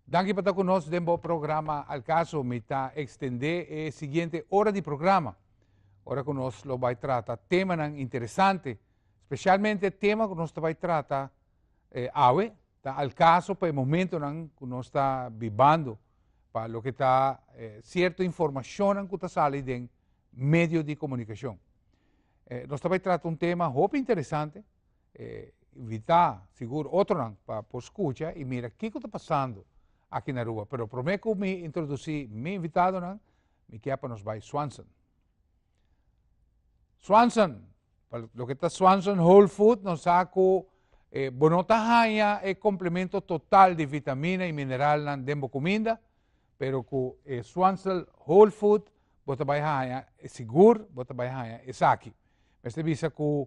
Danki pa ta ku nos den bo programa Al Caso. Mi ta ekstendé e siguiente ora di programa, ora ku nos lo bai trata temanan interesante, spesialmente e tema ku nos ta bai trata awe ta al kaso pa e momentunan ku nos ta bibando, pa loke ta sierto informashonnan ku ta sali den medio di komunikashon. Nos ta bai trata un tema hopi interesante, e invitá sigur otronan pa por skucha i mira kiko ta pasando aki na Aruba. Pero promé ku mi introdusí mi invitadonan, mi ke pa nos bai Swanson. Swanson, pa loke ta Swanson Whole Food, nos sa ku e bo no ta haña e komplemento total di vitamina i mineralnan den bo kuminda, pero ku e Swanson Whole Food bo ta bai haña, sigur bo ta bai haña esaki. Mester bisa ku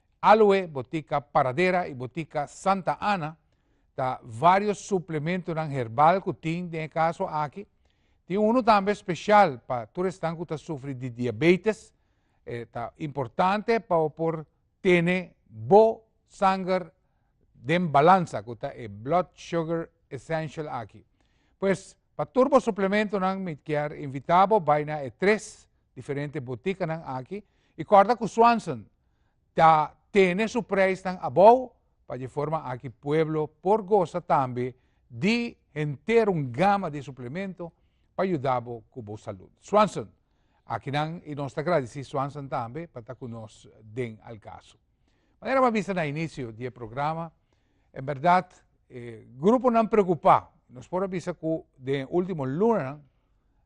Aloe, Botica Paradera y Botica Santa Ana ta varios suplementonan herbal cu tin den e caso aki. Tin uno tambe special pa tur esnan cu ta sufri di diabetes, e ta importante pa bo por tene bo sanger den balansa cu ta e Blood Sugar Essential aki. Pues pa tur bo suplementonan mi kier invita bo bay na e tres diferente boticanan aki y corda cu Swanson ta tene su preisnan abou pa dje forma aki pueblo por gosa tambe di henter un gama di suplemento pa yuda bo ku bo salud. Swanson, Akinan i nos ta gradisí Swanson tambe pa ta ku nos den Al Caso. Manera bo a bisa na inisio di e programa, en bèrdat e gruponan preokupá, nos por a bisa ku den e último lunanan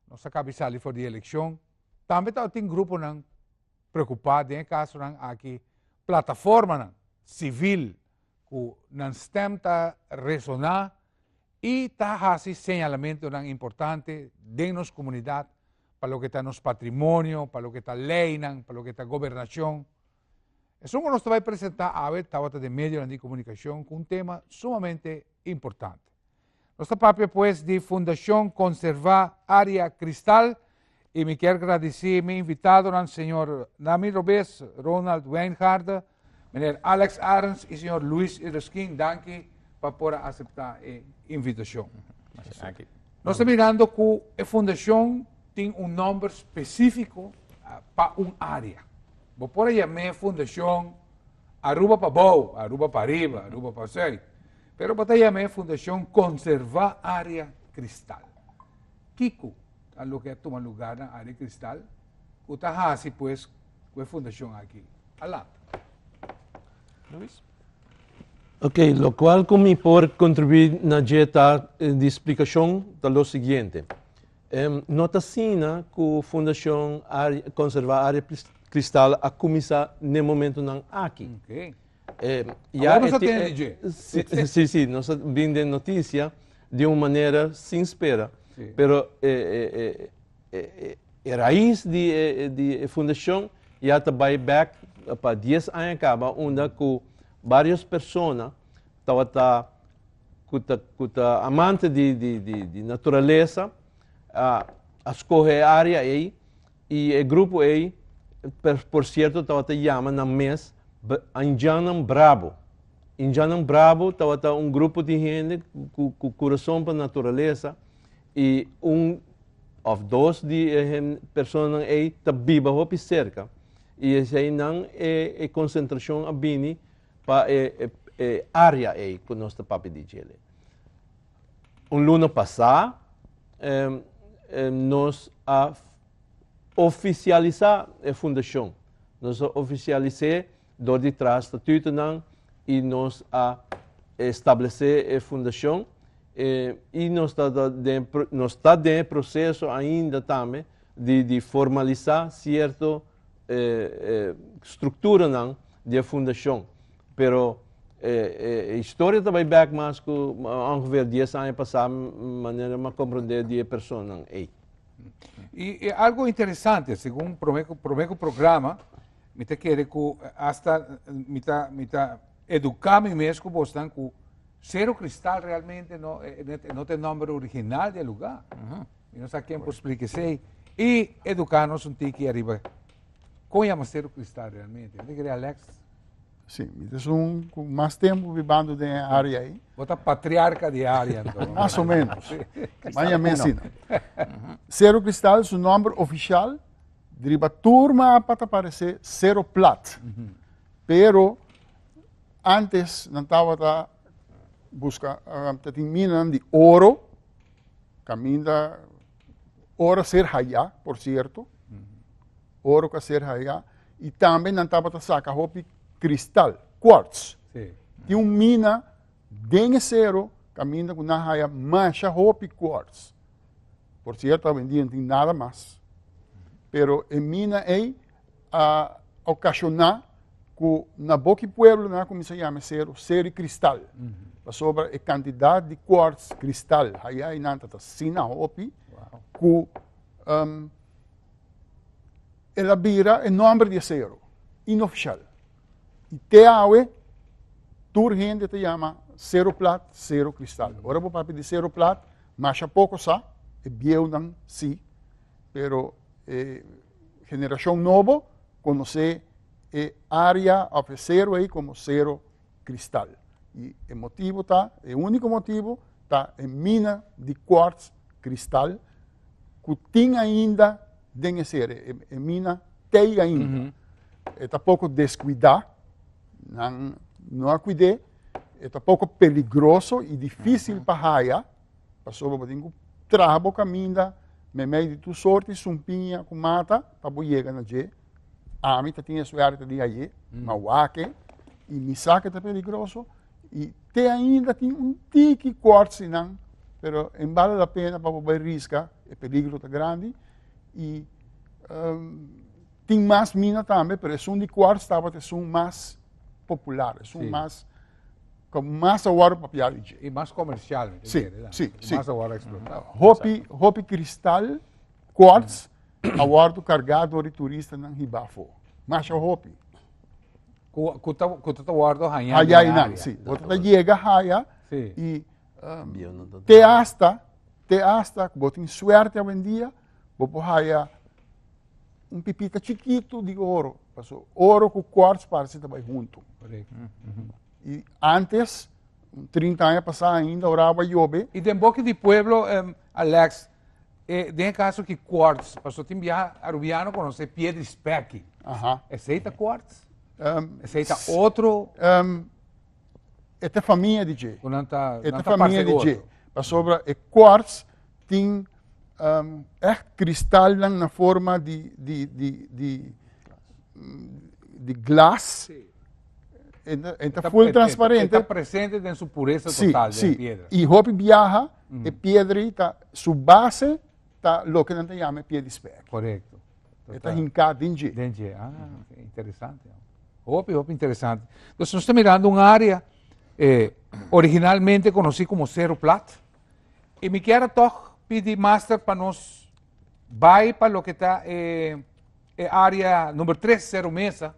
nos a kabi sali for di elekshon, tambe tabata tin gruponan preocupá den e casonan aki plataformanan civil cu nan stem ta resoná y ta haci señalamentonan importante den nos comunidad pa loke ta nos patrimonio, pa loke ta leynan, pa loke ta gobernacion. Esun cu nos ta bay presentá awe tawata den medionan di comunicacion cu un tema sumamente importante. Nos ta papia pues di Fundacion Conserva Area Cristal y mi kier gradici mi invitadonan Señor Nami Robes, Ronald Wijngaarden, Meneer Alex Arends y Señor Luis Ereskine. Danki pa por a acepta e invitacion. Nos ta mirando cu e Fundacion tin un nomber specifico pa un area. Bo por a yame Fundacion Aruba pa bou, Aruba pa riba, Aruba pa zuid. Pero bo ta yam'é Fundashon Konservá Área Kristal. Kiko ta loke a tuma lugá na Área Kristal? Ku ta hasi pues ku e fundashon aki? Alat. Luis? Ok, lokual ku mi por kontribuí na dje tak di splikashon ta lo siguiente. No ta asina ku Fundashon Konservá Área Kristal a kuminsá n'e momentunan aki. Ok. Awor nos a tende dje. Sí, sí, nos a bin den noticia di un manera sin spera. Sí. Pero e, e, e, e, e, e raiz di e, e, di e fundacion ya ta bai back pa 10 aña caba, unda cu varios persona tabata cu ta, cu ta amante di, di, di, di naturaleza, a, a scoge e area ei I e grupo ei, por sierto, tabata yama nan mes Anjannan Brabo. Anjannan Brabo tabata un grupo di hende ku kurason pa naturalesa i un òf dos di e personanan ei ta biba hopi serka. I esei nan e konsentrashon a bini pa e área ei ku nos ta papia di djele. Un luna pasá nos a ofisialisá e fundashon. Nos a ofisialis'é dor di traha statutonan i nos a stablesé e fundashon. I nos ta den nos ta den e proseso ainda tambe di formalisá sierto. e strukturanan di e fundashon. Pero e historia ta bai bèk mas ku ongefeer dies aña pasá, manera mi a komprondé di e personanan ei. I e algu interesante, segun promé ku promé ku programa mi ta kere ku asta mi ta mi ta eduká mi mes ku bosnan ku Sero Kristal realmente no e no ta e nòmber original di e lugá. Mi no sa ken por splika esei. I eduká nos un tiki ariba kon yama ser un kristal realmente. Mira kere Alex? Sí, mi ta un ku mas tempu bibando den e área aí. Bo ta patriarca di área anto. Mas o menos. Maña mi ensina. Cero Cristal su nombre oficial driba turma apa ta parece Cero Plat. Pero antes nan tabata busca, ta tin minan di oro. Caminda ora ser haya, por cierto, ora que ser haya, y también nan tabata saca hopi cristal, quartz. Sí. Tiene un mina den e cero, caminda que nan haya masha hopi quartz. Por cierto, hoy en día no tiene nada más. Pero e mina ei, a okashoná ku na bo ki pueblo nan a kuminsá yama aseru seru di kristal. Pasobra e kantidat di kwarts, kristal, hayai nan ta asina hopi ku el a bira e nòmber di aseru inofishal. I te awe tur hende ta yama seru plat, seru kristal. Ora bo papia di seru plat, masha poko sa, e bieunan si, pero e generashon nobo konosé e área òf e sero ei komo Sero Kristal. I e motibu ta, e úniko motibu, ta e mina di kòrts, kristal, ku tin ainda den e sero. E mina tei ainda. E ta poko deskuidá, nan no a kuid'é, e ta poko peligroso i difísil pa haya. Pasobra bo tin ku traha bo kaminda memei di tur sort di sumpiña ku mata pa bo yega na dje. Ami ta tin e suerte di ayé, ma wake i mi saki ta peligroso i te ainda tin un tiki kòrtsi nan, pero e bale la pena pa bo bai riska, e peligro ta grandi i tin mas mina tambe, pero esun di kòrts tabata esun mas popular, esun mas Con más awor pa piar ichi. Y más comercial. Sí, sí, sí. Más awor explotado. Ah, hopi, hopi cristal, quartz, awor tu cargado door turista nan hibafo. Más hopi. Kuta kuta ta wordo haya. Haya inan, sí. Kuta ta llega haya. Sí. Y um, te hasta, te hasta, botin suerte hoy en día. Bo por haya un pipita chikitu di oro, paso oro ku kwarts parse ta bai huntu. I antes, un trinta aña pasá ainda, ora awa yobe, I den boki di pueblo, em, Alex, e, den e kaso ki kwarts, paso tin biaha Arubiano konos'é piedri spèki. aha, Esei ta kwarts? em, Esei ta otro? em, e ta famia di dje. Ku nan ta, e nan ta ta famia parse di dje. oro. Pasobra e kwarts tin um, ècht kristalnan na forma di, di, di, di, mm, di glas. Sí. E ta, e ta full E transparente. ta presente den su puresa Sí, total den sí. e piedra. I hopi biaha, e piedra ei ta, su base ta loke nan ta yama e pie di spèk. Korekto. E ta hinká den dje. Den dje, ah, okay. interesante. Hopi, hopi interesante. Dus nos ta mirando un área eh, originalmente conocí como Cerro Plat. E mi kier toch pidi master pa nos bai pa lo que ta eh, e área nummer 3, Cerro Mesa,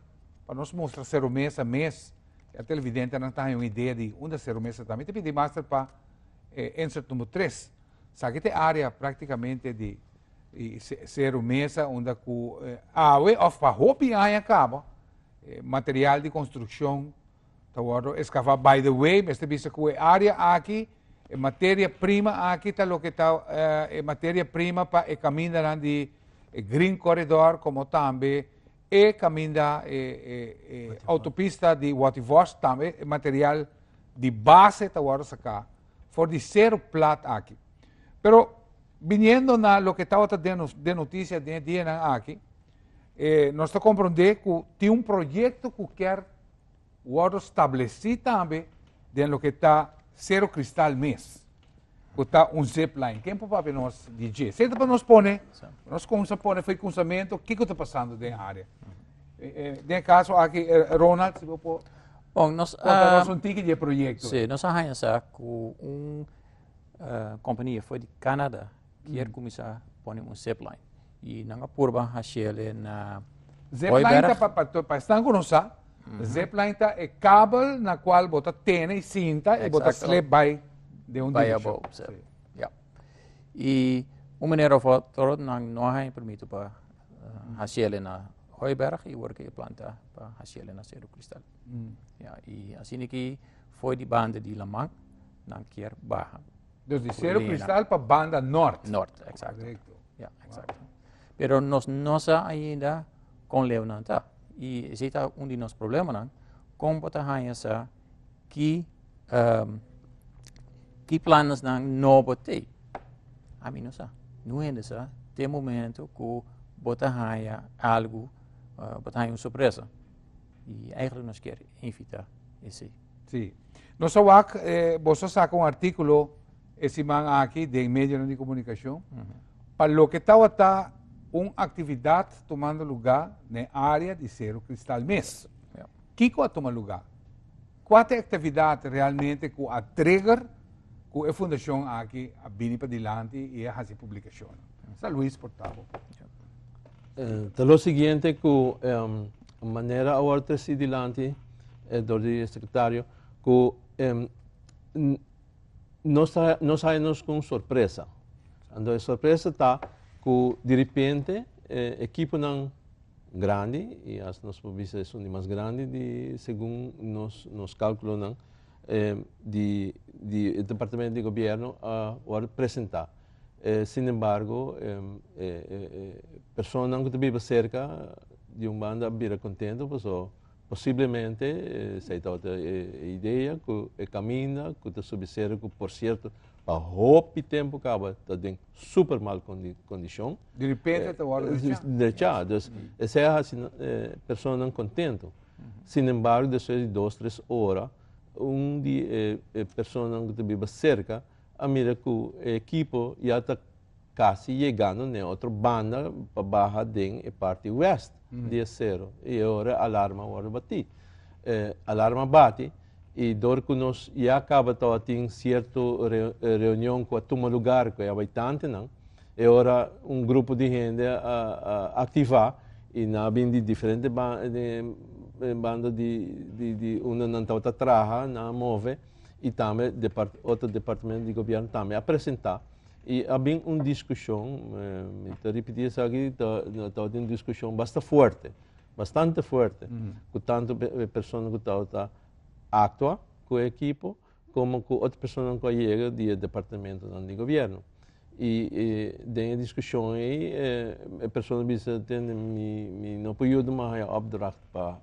pa nos mostra Cerro Mesa mes. E televidente nan ta un idea di unda Cerro Mesa ta. Mi te pidi master pa eh, insert nummer 3. Saki ta e area práktikamente di Seru Mesa unda ku awe òf pa hopi aña kaba material di konstrukshon ta wòrdu eskavá. By the way, mester bisa ku e area aki, e materia prima aki ta loke ta e materia prima pa e kamindanan di e Green Corridor komo tambe E kaminda e autopista di Waterworst tambe e material di base ta wòrdu saká for di seru plat aki. Pero biniendo na loke tabata den nos den noticia den e dianan aki, e nos ta komprondé ku tin un proyekto ku kèr wòrdu stablesí tambe den loke ta seru kristal mes. ku ta un zipline. Ken por papia nos di dje? Seta pa nos pone, nos kumsa pone fei kunsamento kiko ta pasando den área. Eh, eh, den kaso aki, eh, Ronald, si bo por Bon, nos a... konta nos un tiki di e proyekto. Si, nos a haña sa ku un eh, kompania for di Kanada kier kuminsá pone un zipline. Y nan a purba hashele na Zipline ta pa pa esnan ku no sa, zipline ta e kabel na kual bo ta tene i sinta i bo ta slip bai den un direkshon. I un manera òf otro nan no a haña permito pa hashele na Hooiberg i wor ke e plan ta pa hashele na Cerro Cristal. I asina aki for di banda di laman nan kier baha. Dus di Cerro Lena. Cristal pa banda norte. Norte, exacto. Correcto. Ja, exacto. Pero nos no sa ainda con leonan ta. Y ese ta un di nos problemanan. Con bota hanja sa ki, um, ki planes nan no bote. A mi no sa. Nu hende sa, te momento ku bota hanja algo, uh, bota hanja un sorpresa. Y eigenlijk nos kier invita esey. Si. Nos a wak e boso a saka un articulo e siman aki den medionan di comunicacion pa loke tawata un actividad tumando luga na e area di Cerro Cristal mes. Kico a tuma luga? Cua ta e actividad realmente cu a trigger cu e fundacion aki a bini padilanti y a haci e publicacionnan? Sa Luis por tabo. Ta lo siguiente cu. Un manera awor ta si dilanti e dor di sekretario ku em, nos nos haya nos ku un sorpresa. Ando e sorpresa ta ku di repente e ekiponan grandi i as nos por bisa esun di mas grandi di segun nos nos kalkulonan di di e departamento di gobièrnu a wòrdu presentá. Sin embargo, e personanan ku ta biba serka di un banda a bira kontento pasobra posiblemente esei tabata e idea ku e kaminda ku ta subi seru ku por sierto pa hopi tempu kaba ta den super mal kondishon. Di repente ta wòrdu drechá. Drechá, dus esei a hasi personanan kontento. Sin embargo despues di dos tres ora un di e personanan ku ta biba serka. a mira cu e ekipo ya ta casi yegando na e otro banda pa baha den e parti west di e cero y e ora e alarma worde batí. E alarma bati y dor cu nos ya caba ta a tin cierto reunion cu a tuma lugar cu e abitantenan, e ora un grupo di hende a activá y nan a bin di diferente banda di unda nan tabata traha, nan a move. y tambe otro departamento di gobierno tambe a presenta y a bin un discusion, mi ta repiti esaki, a tabata un discusion basta fuerte, bastante fuerte, cu tanto e persona cu tabata actua cu e ekipo como cu otro personanan cu a yega di e departamentonan di gobierno y den e discusion ei e persona bisa tende mi no por yuda mas haya opdracht pa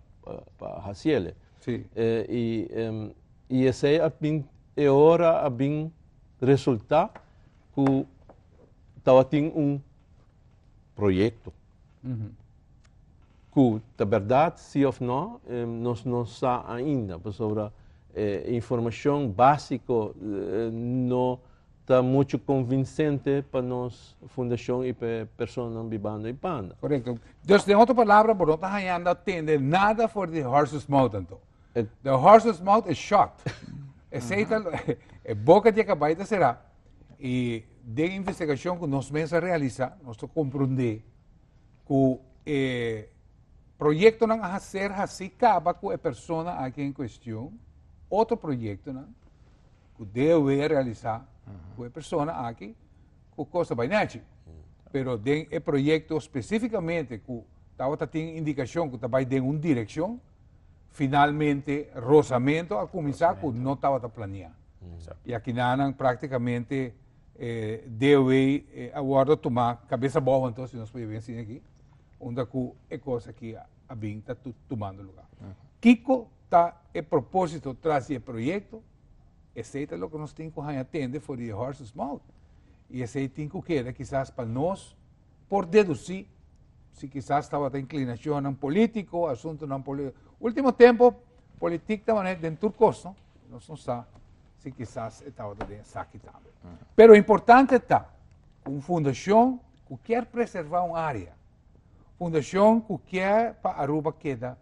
haciele. Sí. Eh, y, em, y esei a bin, e hora a bin resultá cu tawatin un proyecto. Cu ta berdad sí of no, em, nos no sa ainda, pasobra eh, informacion básico eh, no, Ta mucho convincente pa nos fundacion y pa e personanan bibando y panda. Correcto. Dus den otro palabra bo no ta hañando a tende nada for di horse's mouth anto. The horse's mouth is shut. Esey ta lo, e boca di e cabai ta cera. Y den investigacion cu nos mes a realisa, nos ta compronde cu e proyectonan a ser haci caba cu e persona aki en cuestion, otro proyectonan, ku dewe realisá ku e persona aki ku kosa bai nèchi. Pero den e proyekto spesífikamente ku tabata tin indikashon ku ta bai den un direkshon, finalmente rosamento a kuminsá ku no tabata planeá. I akinanan práktikamente eh, dewe eh, a wòrdu tumá kabesa bou anto, si nos por bai enseña aki, unda ku e kos aki a bin ta tumando lugá. Kiko ta e propósito tras di e proyekto? Esei ta loke nos tin ku haña tende for di e horses mouth. I esei tin ku keda kisas pa nos por dedusí si kisas tabata inklinashonnan polítiko, asuntunan polítiko. Último tempu politik ta maneha den tur kos, no? Nos no sa si kisas e tabata den esaki tambe. Pero importante ta ku un fundashon ku kier preservá un área, fundashon ku kier pa Aruba keda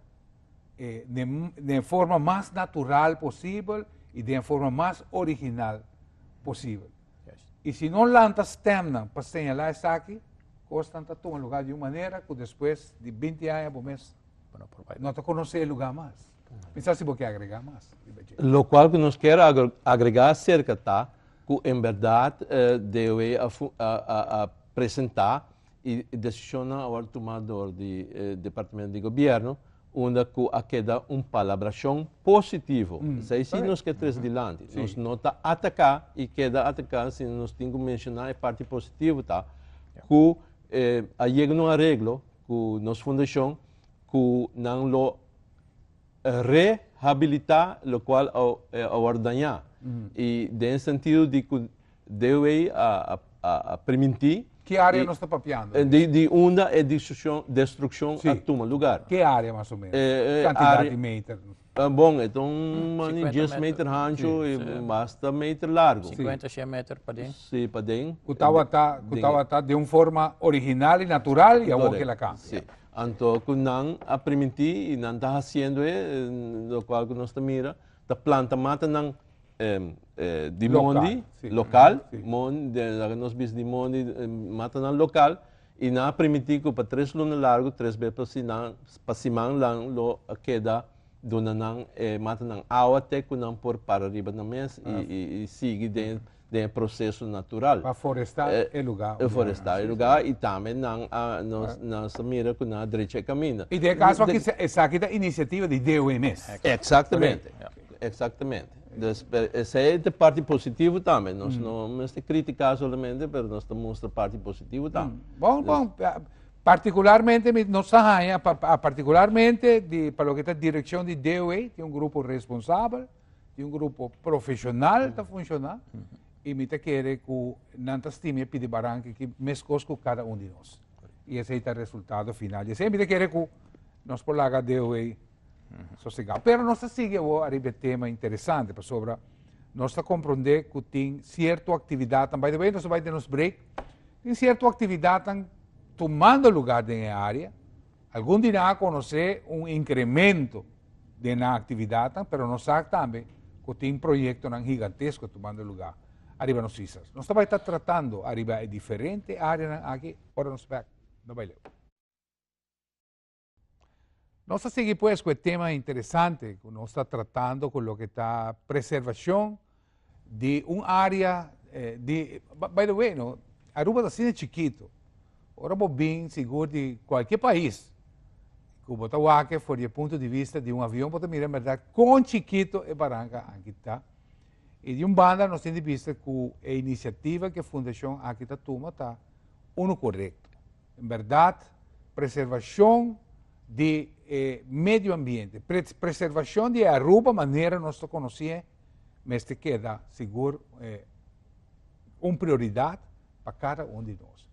eh, den forma mas natural posibel i den forma mas original posibel. I si no lanta stemnan pa señala esaki, kostan ta tuma lugar di un manera ku despues di 20 aña bo mes no ta konosé e lugar mas. Misa si bo ke agregá mas. Lo kual ku nos kier agregá aserka ta ku en berdad eh, DOE a, a, a, a presentá y decisionnan a wòrdu tumá dor di e Departamento di Gobierno unda cu a keda un palabracion positivo. Esei si nos ke tres dilanti. Sí. Nos no ta atacá y keda atacá, sino nos tin cu mencioná e parti positivo ta cu eh, a yega un arreglo cu nos fundacion cu nan lo rehabilitá locual a, eh, a wòrdu dañá. Y den e sentido di cu DW a primintí. Ki área nos ta papiando di? Di unda e destrukshon a tuma lugar. Ki área mas o ménos? Ki kantidat di meter? Bon, e ta un mani dies meter hanchu i basta meter largu. Sinkuenta, shen meter paden. Sí, paden. Ku tabata den un forma original i natural i awor kel a kambia. Anto ku nan a primintí i nan ta hasiendo e lokual ku nos ta mira, ta planta matanan. di mondi, lokal, loke nos bisa di mondi mata nan lokal, i nan a primiti ku pa tres luna largu, tres be pa siman nan lo keda duna nan e matanan awa te ku nan por para riba nan mes i sigui den den e proseso natural. Pa forestá e lugá. E forestá e lugá i tambe nan a nos nos ta mira ku nan a drecha e kaminda. I den e kaso aki esaki ta inisiativa di DOE mes. Eksaktamente, eksaktamente. Dus esei ta e parti positivo tambe. Nos no mester kritiká solamente pero nos ta mustra parti positivo tambe. Bon, bon. Partikularmente mi nos ta haña, partikularmente di pa loke ta direkshon di DOE tin un grupo responsabel. tin un grupo profesional ta funciona y mi ta kere cu nan ta stima e pidi baranki ki mescos cu cada un di nos. Y esey ta resultado final. Y esey mi ta kere cu nos por laga deo ey sosegado. Pero nos ta sigui awor ariba e tema interesante pasobra nos ta compronde cu tin cierto actividadnan, by the way nos ta bay den nos break, tin cierto actividadnan tumando lugar den e area. Algun di nan a conoce un incremento. den nan actividadnan, pero nos sa tambe cu tin proyectonan gigantesco tumando lugar ariba nos islas. Nos ta bai ta tratando ariba e diferente areanan aki ora nos bek no bai leu. Nos ta sigui pues cu e tema interesante cu nos ta tratando cu loke ta preservacion Di un área di, by the way no, Aruba ta asina chikitu, ora bo bin sigur di kualke pais ku bo ta wak for di e punto di vista di un avion bo ta mira en bèrdat kon chikitu e baranka aki ta. I di un banda nos tin di bista ku e inisiativa ku e fundashon aki ta tuma ta unu korekto. En bèrdat preservashon di e medio ambiente, preservashon di e Aruba manera nos ta konosé, mester keda sigur e un prioridad pa cada un di nos.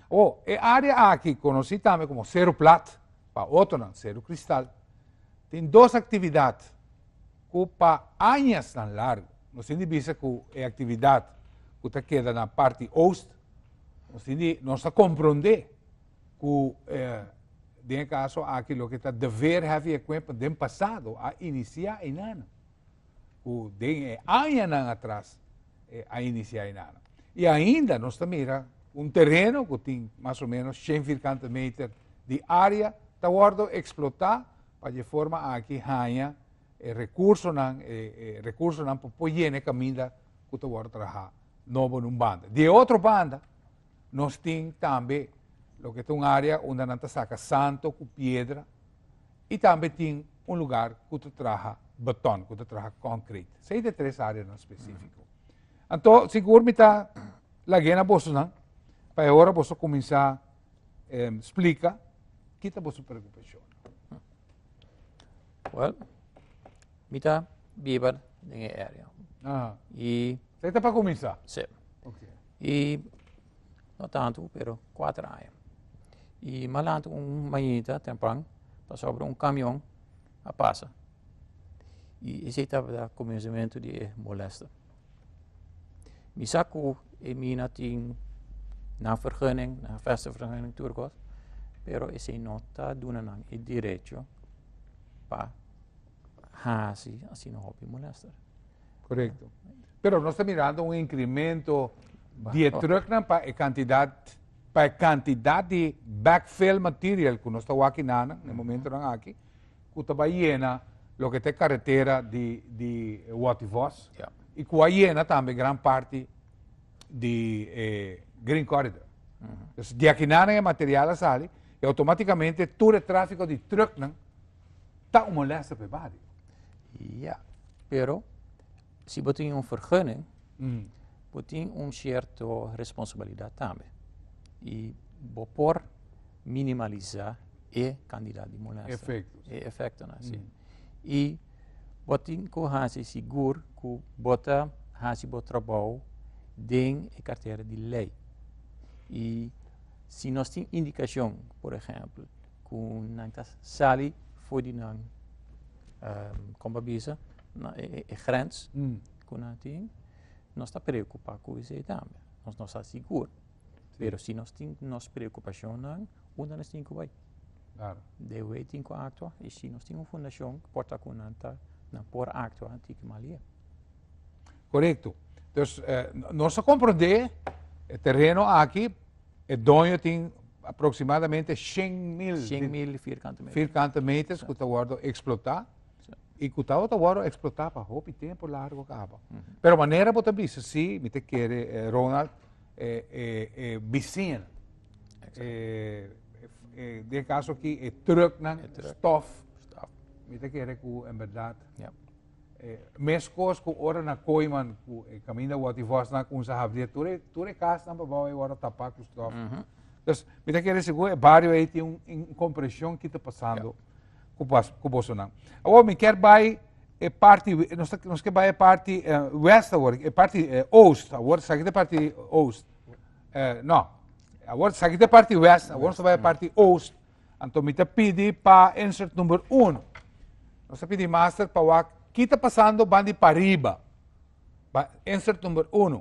O e área aki konosí tambe komo Seru Plat, pa otronan Seru Kristal, tin dos aktividat ku pa añasnan largu nos tin di bisa ku e aktividat ku ta keda na parti Oost nos tin di nos ta komprondé ku e den e kaso aki loke ta dever heavy equipment den pasado a inisiá einana. ku den e añanan atras a inisiá inano. I ainda nos ta mira un tereno ku tin mas o menos shen firkante meter di área ta wòrdu eksplotá pa dje forma aki haña e rekursonan e rekursonan pa por yena e kaminda ku ta wòrdu trahá nobo na un banda. Di e otro banda nos tin tambe loke ta un área unda nan ta saka santo ku piedra i tambe tin un lugar ku ta traha batòn, ku ta traha kònkrit. Sei ta e tres áreanan spesífiko. Anto sigur mi ta lag'é na bosonan pa e ora boso kuminsá splika ki ta boso preokupashonnan. Wèl, mi ta biba den e área. Aha. I. Sei ta pa kuminsá? Sí. Oke. y no tantu pero cuater aña y malantu un mañanita temprano pasobra un camion a pasa y esey tabata comenzamento di e molesta mi sa cu e mina tin nan vergunning nan vestingsvergunning tur cos pero esey no ta duna nan e derecho pa hasi asina hopi molesta. Pero nos ta mirando un incremento di e trucknan pa e cantidad pa e cantidad di backfill material cu nos ta wak na nan e momentonan aki cu ta bay yena loke ta e carretera di di Watervos y cu a yena tambe gran parti di e Green Corridor. Entonces di aki na nan e material a sali y automaticamente tur e trafico di trucknan ta un molesta pa e bario. Ya, pero Si bo tin un vergunning, bo tin un sierto responsabilidat tambe. I bo por minimalisá e kantidad di mulesternan. E efektonan. E efektonan. I bo tin ku hasi sigur ku bo ta hasi bo trabou den e kartera di lei. I si nos tin indikashon, por ehèmpel, ku nan ta sali for di nan, kon bo a bisa? na e grens ku nan tin, nos ta preokupá ku esei tambe. Nos no sa sigur, pero si nos tin nos preokupashonnan, unda nos tin ku bai? Den wei tin ku aktua i si nos tin un fundashon ku por ta ku nan ta, nan por aktua anti ki malié. Korekto. Dus nos a komprondé e tereno aki e doño tin aproksimadamente shen mil vierkante meters ku ta wòrdu eksplotá. I ku tabata wòrdu eksplotá pa hopi tempu largu kaba. Pero manera bo ta bisa si, mi ta kere, Ronald, e, e, e bisin, e, e, den kaso aki e trùknan, stòf, mi ta kere ku en bèrdat, e meskos ku ora na Koiman ku e kaminda wòt di vòsnan a kumsa habri, tur e, tur e kasnan pa bou ei wòrdu tapá ku stòf. Entonces, mi ta kere sigur e bario ei tin un, un kompreshon ki ta pasando. ku pas ku boso nan. Awor mi ker bai e parti nos ta nos ke bai e parti eh, west awor, e parti eh, oost awor, sakit e parti oost. Eh, no. Awor sakit e parti west, awor nos ta bai e parti oost. Anto mi ta pidi pa insert number 1. Nos ta pidi master pa wak kita pasando bandi pariba. Ba insert number 1.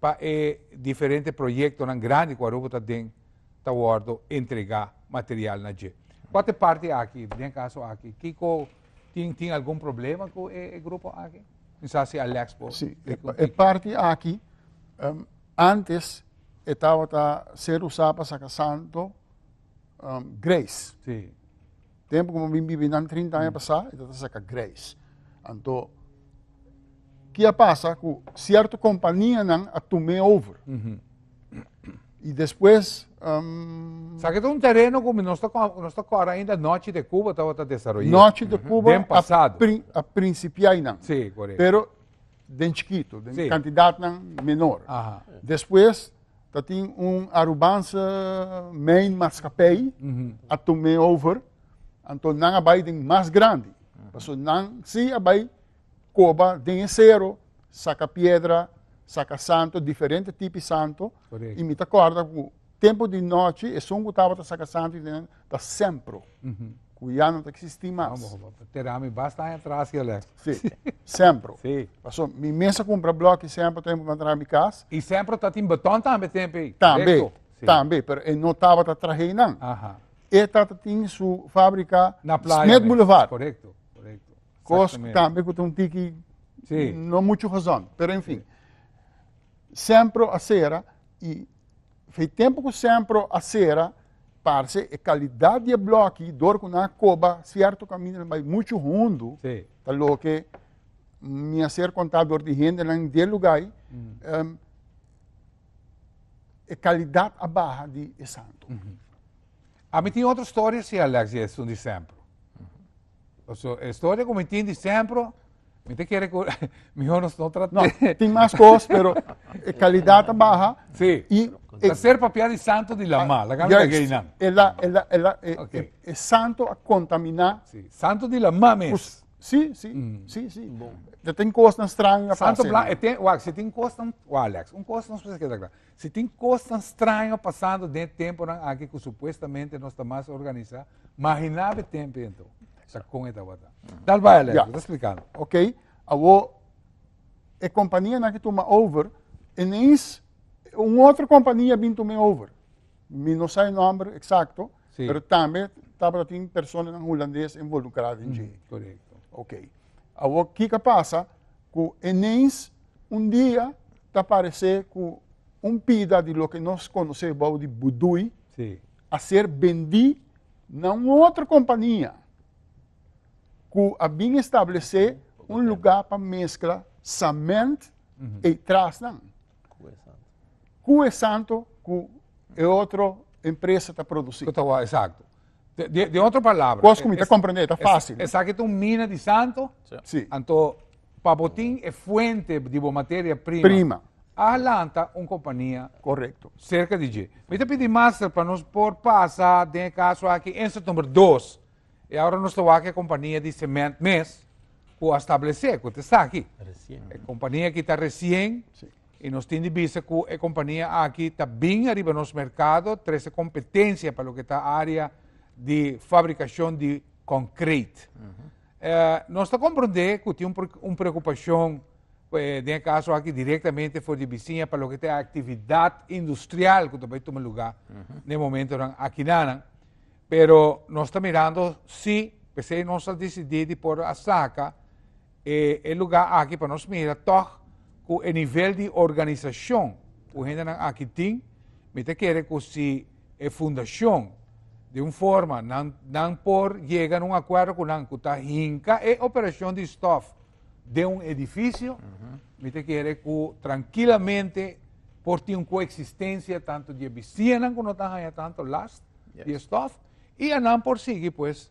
pa e diferente proyektonan grandi ku Aruba ta den ta wòrdu entregá material na dje. Kua ta e parti aki, den kaso aki, kiko tin tin algun problema ku e grupo aki? Mi sa si Alex por Si, e, tiki un e tiki. parti aki, em, antes e tabata ser usá pa saka santo, em, Grace. Sí. Tempu ku bo bin bibi nan trinta aña pasá, e ta ta saka greis. Anto, ki a pasa ku sierto kompanianan a tum'é over. I despues, um, Sa ke ta un tereno ku mi nos ta kò- nos ta kòrda ainda Nochi de Kuba tabata desaroyá. Nochi de Kuba Den a, pasado. prin- a prinsipiá einan. Sí, korekto. Pero den chikitu, den Sí. kantidatnan menor. Aha. Despues, ta tin un Arubanse main maskapij a tome over, anto nan a bai den mas grandi, paso nan si a bai koba den e sero, saka piedra, saka santo, diferente tipi santo, i mi ta kòrda ku tempu di nòchi esun ku tabata saka santo di nan ta sempru. ku ya no ta eksistí mas. Te da mi basta aña atras ya lek. Sí, sempro. Sí. Paso mi mes a kumpra blòk i sempro tempu mi a traha mi kas. I sempro tatin botòn tambe tempu ei. Tambe, tambe, pero e no tabata traha einan. Aha. E tata tin su fábrika. Na playa. Smith Boulevard. Korekto, korekto. Kos ku tambe ku ta un tiki. Sí. No muchu razòn, pero en fin. Sempro a sera i Fei tempo ku sempro a sera, parce e kalidad di e bloki dor ku nan a koba sierto kaminda nan bai muchu hundu, sí. ta loke mi a ser kontá dor di hendenan de lugai, mm. um, e kalidad a baha di e santo. Mm -hmm. A mi tin otro storia si Alex, e sun di sempro. So, e historia ku mi tin di sempro, mi te kere ku mihor nos no trata. No, tin mas kos, pero e kalidad ta baha. Si. I ta ser papia di santo di lama, la kami lagay nan. E la, e la, e la, e, okay. e, e santo a kontamina. Si, santo di lama mes. Si, si, mm. si, si. Bon. Te tin kos nan stranga. Santo blan, e ten, wak, si tin kos nan, wak Alex, un kos nos pese keda klar. Si tin kosnan straño pasando den e temponan aki ku supuestamente nos ta mas organisá, mahiná be tempe anto. Sa kon e tabata. Dal bai Alejo, ta splikando. Ok, awo e kompanianan ki tuma over, inens un otro kompania bin tuma e over. Mi no sa e nòmber eksakto, pero tambe tabata tin personanan hulandes envolukrá den dje. Korekto. Ok, awo kiko pasa ku inens un dia ta parece cu un pida di loke nos conoce bao di budui a ser bendi na un otro compania cu a bin establece un luga pa mezcla cement y trasnan. Cue Santo cu e otro empresa ta produci. Cu ta wak, exacto. De, de otro palabra. Cos cu mi ta comprende ta fácil. Esaki ta un mina di santo. Sí. Anto, pa bo tin e fuente di bo materia prima. Prima. A lanta un compania. Correcto. Cerca di dje. Mi ta pidi master pa nos por pasa den e caso aki inset number dos. E aura nos ta wak e compania di cement mes cu a stablece, cu ta esaki. Recien. E compania aki ta recien. Sí. I nos tin di bisa ku e kompania aki ta bin ariba nos merkado trese kompetensia pa loke ta área di fabrikashon di konkreit. Nos ta komprondé ku tin un preokupashon den e kaso aki direktamente for di bisiña pa loke ta e aktividat industrial ku ta bai tuma lugá na e momentonan aki nan. Pero nos ta mirando si, p'esei nos a disidí di por a saka. E e lugá aki pa nos mira tòg ku e nivel di organisashon ku hendenan aki tin, mi ta kere ku si e fundashon di un forma nan nan por yega na un akuerdo ku nan ku ta hinka e operashon di stòf den un edifisio, mi ta kere ku trankilamente por tin un koeksistensia tantu di e bisiñanan ku no ta haña tantu last di e stòf i anan por sigui pues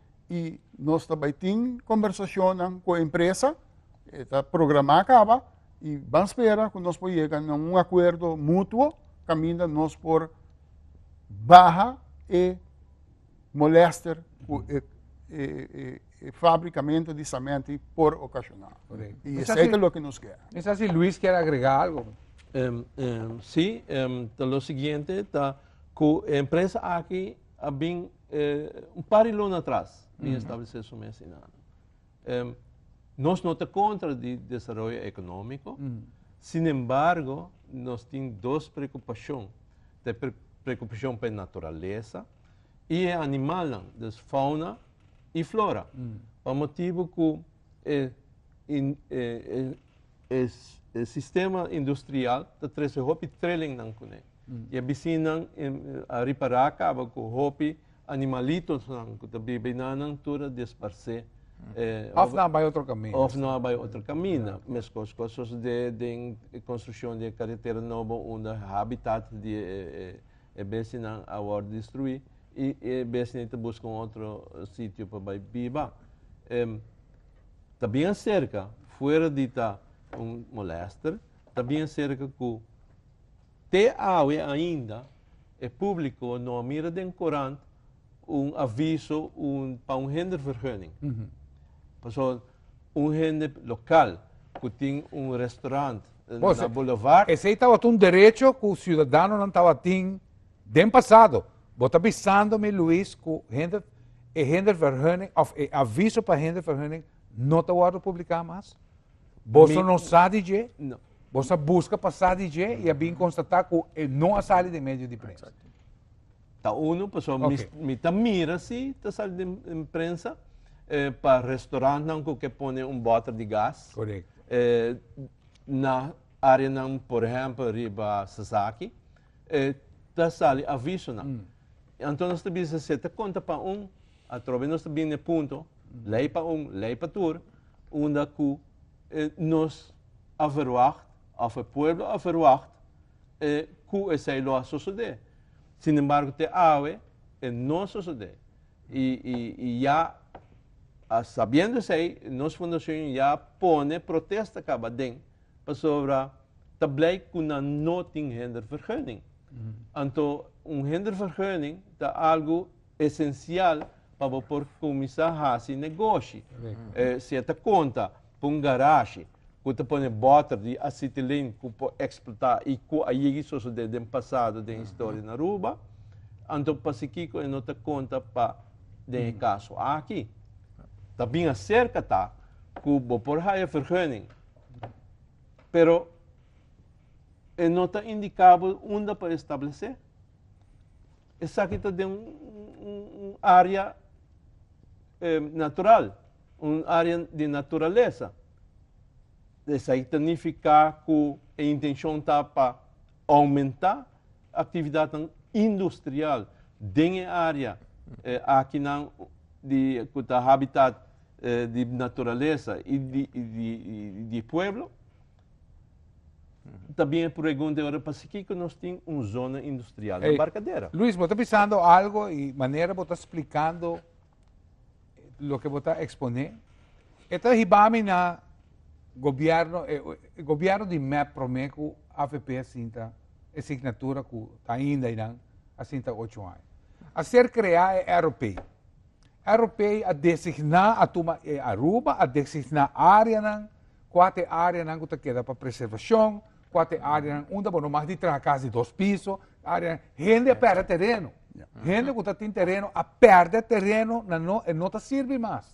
y nos ta bay tin conversacionnan cu e empresa, e ta programa caba y ban spera cu nos por yega na un acuerdo mutuo caminda nos por baha e molester cu e, e, e, e fabricamento di cemento por ocasiona. Correcto. Y Misa esey si- ta lo que nos quiere. Mi sa si Luis kier agrega algo. Em, em, sí, em, ta lo siguiente, ta cu e empresa aki a bin E un par di luna atras bin establesé su mes inandu. E nos no ta kontra di desaroyo ekonomiko, sinembargo nos tin dos preokupashon, ta e preokupashon pa e naturalesa i e animalnan, dus fauna i flora, pa motibu ku. E sistema industrial ta trece hopi trelingnan cune. Y e bisinnan a ripara caba cu hopi animalitosnan cu ta biba y nannan tur a desparce. Of nan a bay otro cami. Of nan a bay otro cami. Mescos cos socede den e construccion di e caretera nobo unda e habitat di e bestinan a worde destrui. y e besney ta busca un otro sitio pa bay biba. Em, ta bien acerca, fuera di ta un molester, ta bien acerca cu te awe ainda e publico no a mira den corant un aviso un, pa un hindervergunning. Paso un hende local cu tin un restaurant eh, Bo, na se- boulevard, Esey tabata un derecho cu ciudadanonan tabatin Den pasado, bo ta bisando mi Luis cu hender, e hendervergunning of e aviso pa hendervergunning no ta wordo publica mas? Boso Mi- no sa di dje? No. Boso a busca pa sa di dje y a bin constata cu e no a sali den medio di prensa. Ta uno, paso mi, Ok. mi ta mira si ta sali den den prensa eh, pa restaurantnan cu ke pone un boter di gas. Correcto. eh, na areanan, por ehempel, riba Sasaki. E ta sali avisonan. I anto nos ta bisa si e ta konta pa un, atrobe nos ta bini na e punto, lei pa un, lei pa tur, unda ku e nos a verwagt, òf e pueblo a verwagt, e ku esei lo a sosodé. Sinembargo te awe e no a sosodé. I, i, i ya sabiendo esei, nos fundashon ya pone protesta kaba den. Pasobra ta bleik ku nan no tin hindervergunning. Anto un hindervergunning ta algu esensial pa bo por kuminsá hasi negoshi. E seta konta pa un garashi ku ta pone bòter di asitilen ku por eksplotá i ku a yegi sosodé den pasado den historia na Aruba. Anto pasikiko e no ta konta pa den e kaso aki? Ta bin aserka ta ku bo por haya vergunning Pero e no ta indiká bo unda pa establesé. Esaki ta den un área natural, un área di naturalesa. Esaki ta nifiká ku e intenshon ta pa Oumentá aktividatnan industrial den e área akinan di ku ta habitat di naturalesa i di pueblo. Ta bin e pregunta ora pasikiko nos tin un zona industrial na Embarcadera? Luis, bo ta bisando algo i manera bo ta splikando. Loke bo ta eksponé e ta hiba mi na gobièrnu, e gobièrnu di mep promé ku avp a sinta e signatura ku ta ainda einan a sinta ocho aña. A ser kreá e ROP. ROP a designá, a tuma e Aruba, a designá áreanan, kua ta e áreanan ku ta keda pa preservashon, Kua ta e áreanan unda bo no mas di traha kas di dos piso? Área, hende a pèrdè tereno. Hende ku ta tin tereno a pèrdè tereno na no, e no ta sirbi mas.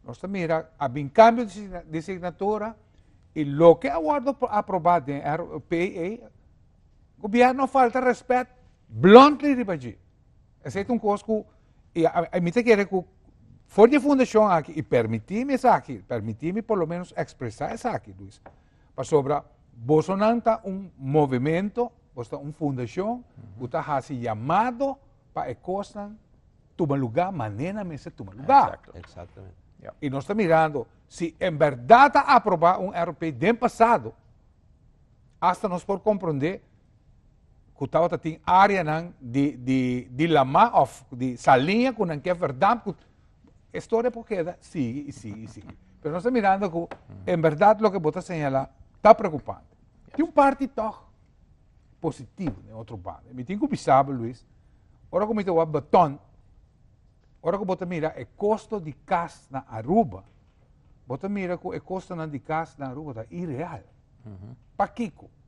Nos ta mira, a bin kambio di signatura i loke a wòrdu aprobá den RPA, gobièrnu a falta rèspèt bluntly riba dje. Esei ta un kos ku mi ta kere ku for di e fundashon aki i permití mi esaki, permití mi por lo menos ekspresá esaki, Luis. Pasobra bosonan ta un movemento, bos ta un fundashon ku ta hasi yamado pa e kosnan tuma lugá manera nan mester tuma lugá. I nos ta mirando si en bèrdat a aprobá un RUP den pasado, asta nos por komprondé ku tabata tin areanan di, di, di lamá of di saliña ku nan ke verdad ku historia por keda sigui i sigui i sigui. Pero nos ta mirando ku en verdad loke bo ta señalá ta preokupante. Tin un parti tòg positivo den otro banda. Mi tin ku bisabo, Luis, ora ku mi ta wak Baton, ora ku bo ta mira e kosto di kas na Aruba, bo ta mira ku e kostonan di kas na Aruba ta ireal. Pakiko?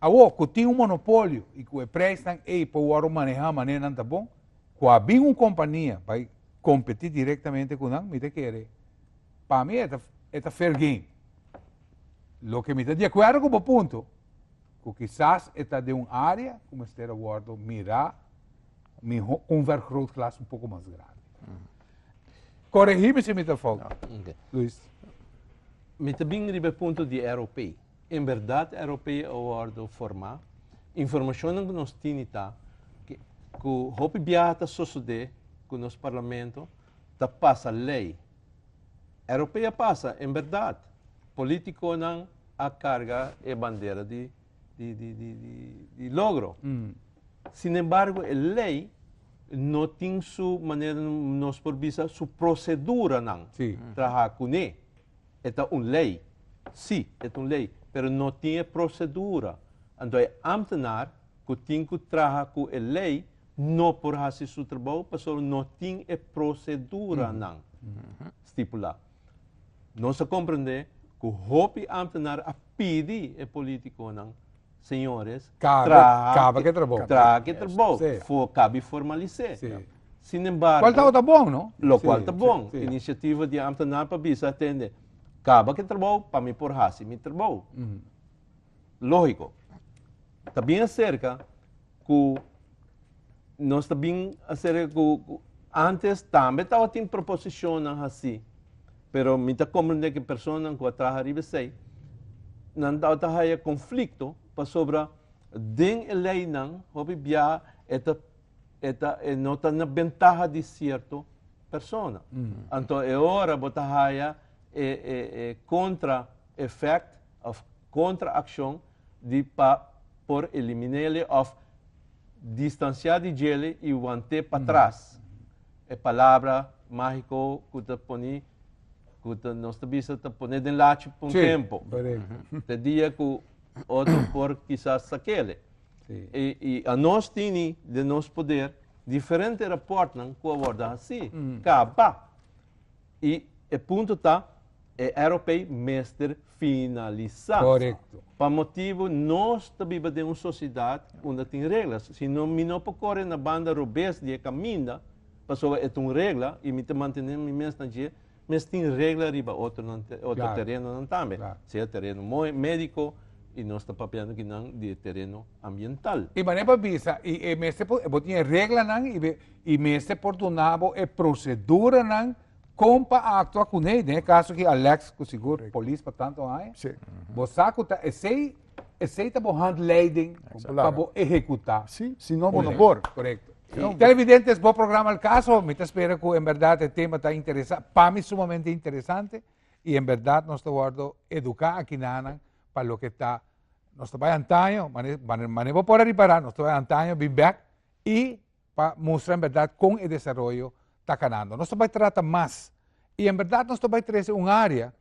Awor, ku tin un monopolio i ku e preisnan ei por wòrdu manehá manera nan ta bon, ku a bin un kompania bai kompetí direktamente ku nan, mi ta kere, pa mi e ta e ta fair game. Loke mi ta di akuerdo ku bo punto, ku kisas e ta den un área ku mester a wòrdu mirá mihó un vergrootglas un poko mas grandi. Koregí mi si mi ta foutu, Luis. Mi ta bin riba e punto di Aeropay. En berdad Aeropea a wordo formá. Informacionnan cu nos tini ta cu hopi biaha ta sosode cu nos Parlamento ta pasa ley. Aeropea a pasa, en berdad. Politiconan a carga e bandera di di logro. Sin embargo e ley no tin su manera nos por bisa su proceduranan traha cune. E ta un lei. Sí, e ta un lei, pero no tin e procedura. Anto e ambtenaar cu tin cu traha cu e lei no por haci su trabou pasobra no tin e proceduranan stipula. Nos a comprende cu hopi ambtenaar a pidi e politiconan. señores, traha ke trabou fo kabi formalis'é. Sin embargo. Lo kual ta bon no? Lo kual ta bon. Inisiativa di e ámtenar pa bisa atende, kaba ke trabou pa mi por hasi mi trabou. Lógiko, ta bin aserka ku nos ta bin hacer ku antes tambe tabatin proposicionnan hasi, pero mi ta comprende ku personanan ku a traha riba esei nan tabata haya conflicto pasobra den e leynan hopi biaha e ta e ta e no ta na bentaha di cierto persona. Anto e ora bo ta haya e e e contra effect of kontra akshon di pa por eliminéle òf distansiá di djele i want'é patras, e palabra máhiko ku ta poni, ku ta nos ta bisa ta pon'é den lachi pa un tempu, te dia ku otro por kisas sak'ele. I i anos tini den nos poder diferente rapòrtnan ku a wòrdu hasí, kaba. I e punto ta e Aeropei mester finalisa. Korekto. Pa motibu nos ta biba den un sosidat unda tin reglas. Si no mi no por kore na banda robes di e kaminda pasobra e ta un regla i mi ta mantene mi mes na dje, mes tin regla riba otronan te, otro Claro, terenonan tambe. claro. Sea tereno moe, médiko i nos ta papiando ki nan di e tereno ambiental. I mané pa bisa i e mester por bo tin e reglanan i be I mester por duna bo e proceduranan con pa actua cune ei. Den e caso aki Alex cu sigur e polis pa tanto aña. Sí. Bo sa cu ta esey, esey ta bo handleiding pa bo ehecuta. Sí, si no bo no por. Correcto. Televidentes, bo programa El Caso. Mi ta spera cu en berdad e tema ta interesa, pa mi sumamente interesante y en berdad nos ta wordo educa aki nanan pa loke ta, nos ta bay antaño, mane, mane bo por a ripara, nos ta bay antaño bin bek y. pa mustra en berdad kon e desaroyo ta kanando. Nos ta bai trata mas i en berdad nos ta bai trese un área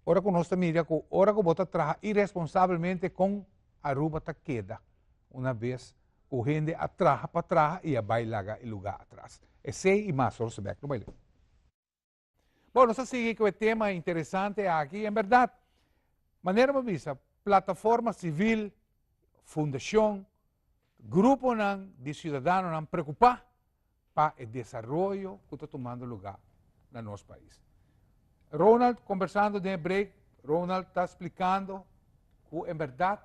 ora ku nos ta mira ku ora ku bo ta traha iresponsabelmente kon Aruba ta keda una bes ku hende a traha pa traha i a bai laga e lugá atras. Esei i mas horas bèk lo bai leu. Bo, nos a sigui cu e tema interesante aki. En berdad, manera bo bisa, plataforma civil, fundacion, gruponan di ciudadanonan preocupa pa e desaroyo cu ta tumando lugar na nos pais. Ronald, conversando den e break, Ronald ta explicando cu en berdad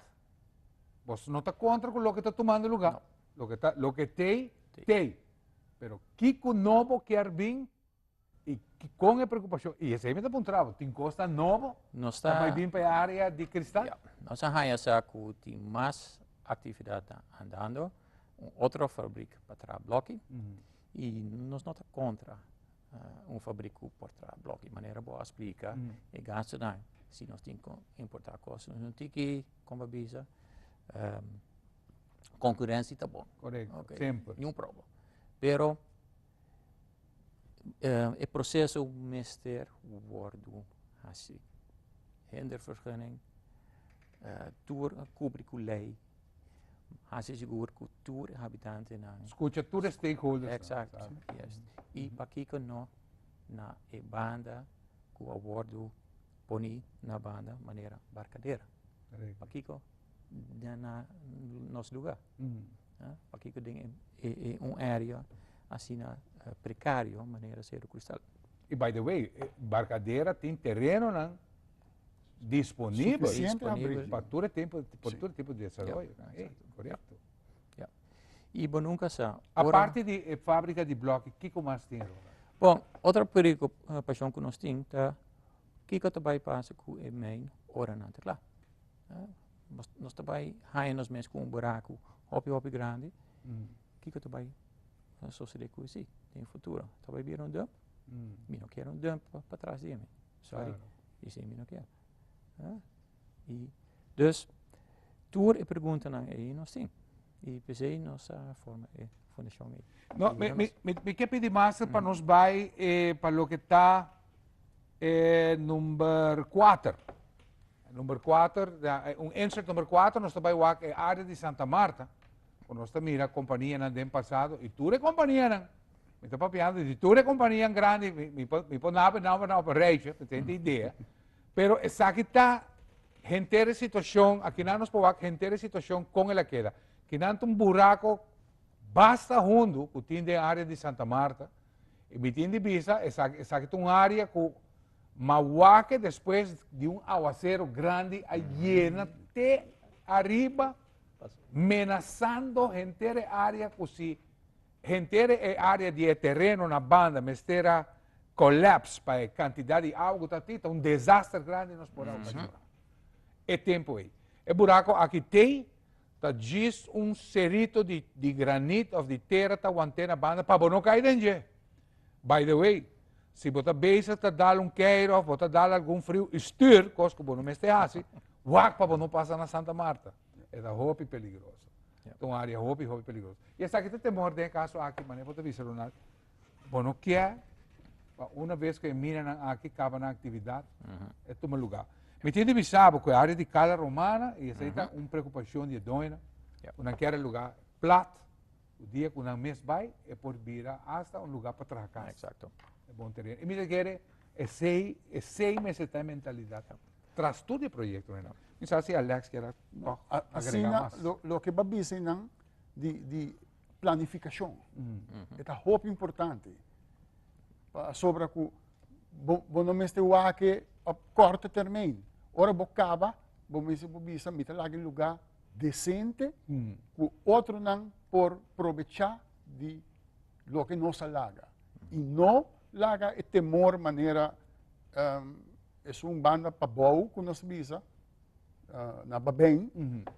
bos no ta contra cu lo que ta tumando lugar. No. Lo que, ta, lo que tei, tei. Pero kico no bo kier bin Y con e preocupacion, y esey mi ta puntraba, tin cos ta nobo, Nos ta ta... bay bin pa e area di cristal? Ya, nos a haya sa cu tin mas actividad andando, un otro fabriek pa traha bloki, y nos no ta contra un fabriek cu por traha bloki, manera bo a splica e gastonan, si nos tin cu importa cos, nos tin ki, como bo a bisa, concurentie ta bon, Correcto, semper. ni un probo, pero. e proceso mester wordo hasi hender vergunning tur a kubri ku lei hasi sigur ku tur e habitantenan skucha tur e stakeholders nan eksakto i pakiko no na e banda ku a wordo poni na banda manera barkadera pakiko den na nos lugar pakico den e un area asina precario manera Cerro Cristal. Y by the way Barcadera tin terenonan disponibel pa tur e tempo pa tur e tipo di desaroyo correcto. Y bo nunca sa ora. Aparte di e fabrica di bloke kico mas tin Ronald? Bon otro preocupacion cu nos tin ta kico ta bay pasa cu e mine ora nan ta cla. Nos ta bai haña nos mes ku un buraku hopi hopi grandi, kiko ta bai sosodé ku esei den futuro? Mi ta bai bira un dùmp? Mi no kier un dùmp pa tras di mi, sòri, esei mi no kier. I dus tur e preguntanan ei nos tin, i p'esei nos a forma e fundashon ei. No, mi, mi, mi, mi ke pidi mas pa nos bai pa loke ta e number kuater. Number kuater, un insert number kuater nos ta bai wak e área di Santa Marta ku nos ta mira kompanianan den pasado i tur e kompanianan, mi ta papiando di tur e kompanianan grandi, mi por mi por naba e nòmber nan op e rèichi pa mi tene e idea, pero esaki ta henter e situashon, a kinan nos por wak henter e situashon kon el a keda. Kinan ta un burako basta hundu ku tin den área di Santa Marta, E bitin di bisa esaki, esaki ta un área ku ma wak despues di un awasero grandi a yena te ariba menasando henter e área ku si henter e área di e tereno na banda mester a collapse pa e kantidat di awa ku ta atí ta un desaster grandi nos por a okasioná e tempu ei. E burako aki t'ei Ta djis un serito di di granit of di tera ta want'é na banda pa bo no kai den dje. By the way, si bo ta bezig ta dal un keir of bo ta dal algun friu i stuur, kos ku bo no mester hasi, wak pa bo no pasa na Santa Marta. E ta hopi peligroso. Ta un área hopi, hopi peligroso. I esaki ta temor den e kaso aki, manera ku bo ta bisa Ronald. Bo no kier, pa una vez cu e minanan aki caba nan actividad, e tuma lugar. Mi tin di bisa bo cu e area di Cala Romana, y esey ta un preocupacion di e doñonan, cu nan kier e lugar plat, cu dia cu nan mes bay, e por bira hasta un lugar pa traha casa. Exacto. E bon tereno. Y mi ta kere esey, esey mester ta e mentalidad tras tur di e proyectonan. Mi sa si Alex kier tog agrega mas. Asina, lo, loke bo a bisa nan di, di. planificacion e ta hopi importante pasobra cu bo, bo no mester wake pa corto termijn. Ora bo caba, bo mester bo bisa mi ta laga un lugar decente mm. cu otronan por probecha di lo que nos a laga. Mm. Y no laga e temor manera um, es un banda pa bou cu nos bisa na baben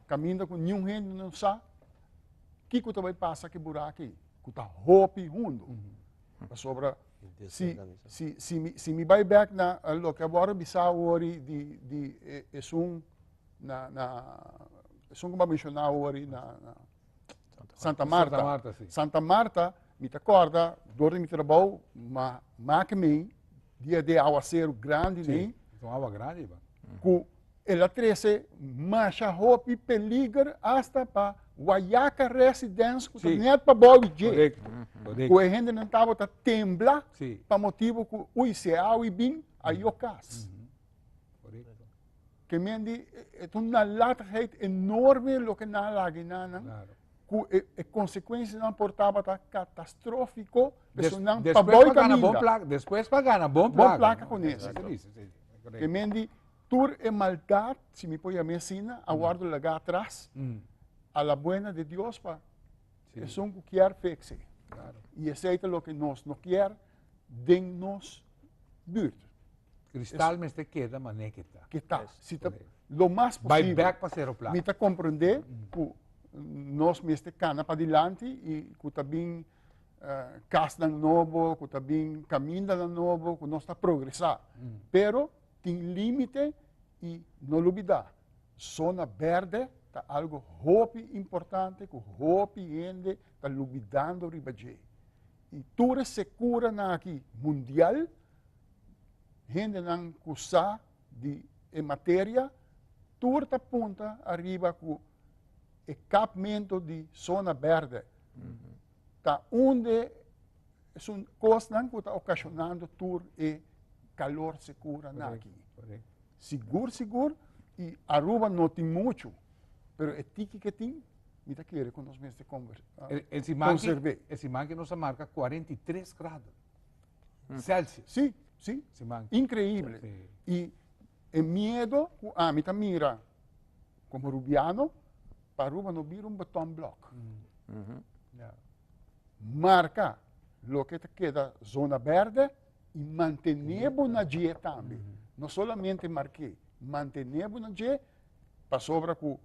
kaminda ku niun hende no sa kiko ta bai pasa ki bura aki ku ta hopi hundu pasobra si si si mi si mi bai bek na loke a wòrdu bisa wori di di esun na na esun ku mi a menshoná wori na na Santa Marta. Santa Marta, sí. Santa Marta, mi ta corda, door di mi trabou, ma make mi dia de aguacero grande sí. nee. Con agua grande iba. Cu el a trece masha hopi peliger hasta pa Guayaca residents cu sí. net pa bobi dje. Correcto. Correcto. Cu e hende nan tabo ta tembla sí. pa motibo cu ui se awi bin a yo cas. Mm -hmm. Correcto. que men di es un nalatigheid enorme lo que na lagi na nan claro. cu e, e consecuencia nan por tabata catastrófico Des, nan pa después boy pa gana bon caminda placa, después pa gana bon bon placa. placa con Eso eso. que dice, sí, sí, que correcto. men di tur e maldad si mi poya me sina a wardo laga atrás Mm, a la buena de Dios pa sí, es un cu kier fixi claro. y ese es lo que nos no kier den nos buurt. Kristal mester keda mané ke ta. Ke ta. Si ta lo mas posibel. Bai back pa Cerro Plata. Mi ta komprendé ku nos mester kana pa dilanti i ku ta bin kasnan nobo, ku ta bin kamindanan nobo, ku nos ta progresá. Pero tin límite i no lubidá zona bèrdè ta algu hopi importante ku hopi hende ta lubidando riba dje. I tur e sekuranan aki mundial, hendenan ku sa di e materia, tur ta punta ariba ku e kapmentu di sona bèrdè ta un di e kosnan ku ta okashonando tur e kalor sekuranan aki. Sigur sigur y Aruba no tin mucho pero e tiki ke tin mi ta kere ku nos mester konserve. E siman aki nos a marka 43 grado celsius. Si si increible y e miedo ku ami ta mira como Rubiano pa Aruba no bira un beton blok marka loke ta keda zona berde. i mantené bo na dje tambe. No solamente mark'é, mantené bo na dje pasobra ku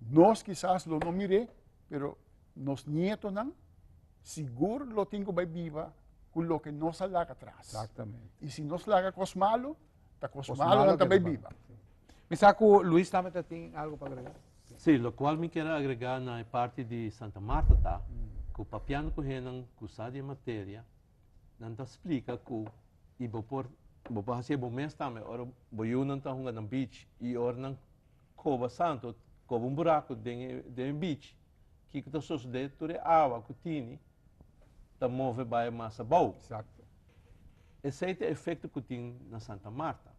nos kisas lo no mir'é, pero nos nietonan sigur lo tin ku bai biba ku loke nos a laga tras. I si nos laga kos malu, ta kos malunan ta bai biba. Mi sa ku Luis tambe ta tin algu pa agregá. Sí, lokual mi kier agregá na e parti di Santa Marta ta ku papiando ku hennan ku sa di e materia, Nan ta splika ku i bo por bo por hasi e bo mes tambe ora bo yunan ta hunga na beach i ora nan koba santo koba un buraku den e den e beach kiko ta sosodé tur e awa ku tini ta move bai mas abou Exacto. esei ta efekto ku tin na Santa Marta